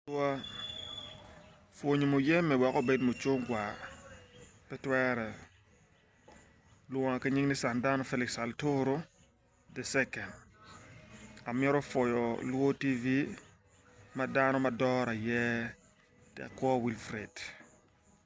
Atura, pwonyo muyeme wek obed mucungwa pe twere. Lwonga ki nying ni Sandano Felix Alotoro the second. Amito pwoyo Luo TV ma dano ma dora iye Tekwo Wilfred.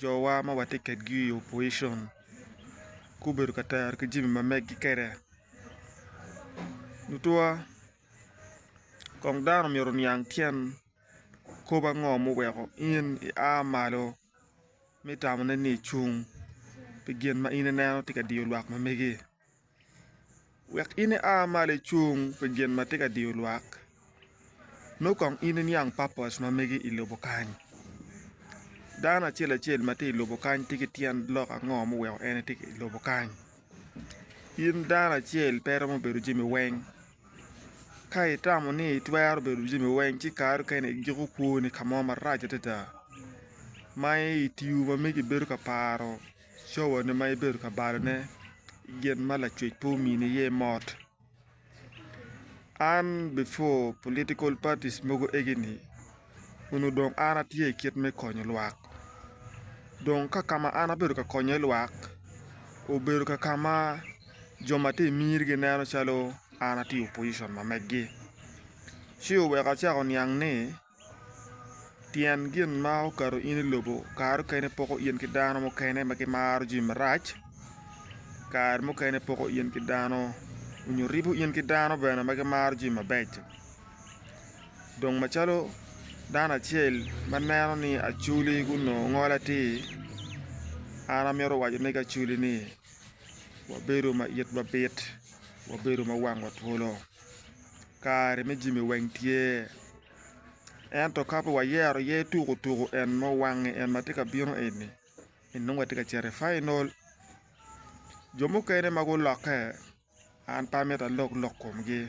Jowa ma watye kedgi i opposition gubedo ka tero ki jami ma meggi kede tutwa kong dano myero oniang tyen kop ango ma oweko in i a malo me tamone ni icung pi gin ma in ineno tye ka diyo lwak ma megi. Wek in ia malo icung pi gin ma tye ka diyo lwak nongo kong in iniang papos ma mege i lobo kany dano acel acel ma tye i lobo kany tye ki tyen lok ango ma oweko en etye i lobo kany in dano acel pe iromo bedo jami weng ka itamo ni itwero bedo jami weng ci kare mukene igiko kwoni ka mo marac adada ma i tiyo ma megi ibedo ka paro Cowani ma ibedo ka balone gin ma lacwec pe omini iye mot. An before political parties mogo egini onongo dong an atye i kit me konyo lwak dong ka ka ma an abedo ka konyo iye lwak obedo ka ka ma jo ma tye i miri gineno calo an atye i opposition ma megi ci oweko acako oniang ni Tyen gin ma okato in i lobo kare mukene poko in ki dano mukene ma gimaro jami marac kare mukene poko in ki dano nyo ribo in ki dano bene ma gimaro jami mabeco dong macalo dano acel ma neno ni acwli gunongo ngol atir an amito waco ne ki acwli ni wabedo ma itwa bit wabedo ma wangwa twolo kare me jami weng tye. ento ka pe wayero aye tuko tuko en ma owangi en ma tye ka bino eni nongo watye ka cito i final jo mukene ma gulokke an pe amito alok lok komgi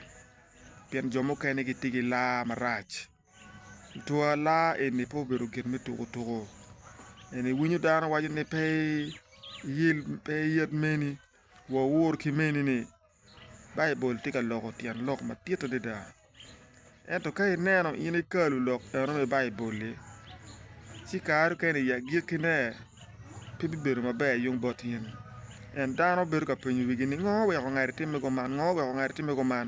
pien jo mukene gitye ki laa marac twua laa eni pe obedo gin me tuko tuko eni iwinyo dano waco ni pe iyel meni. Wawur ki meni ni, Baibul tye ka loko tyen lok madit adada. Ento ka ineno in ikalu lok eno me Baibul-li, ci kare mukene i agikkine pe bibedo maber yung bot in. Pien dano bedo ka penyo wigi ni, 'Ngo weko ngati timme kuman? Ngo weko ngati timme kuman?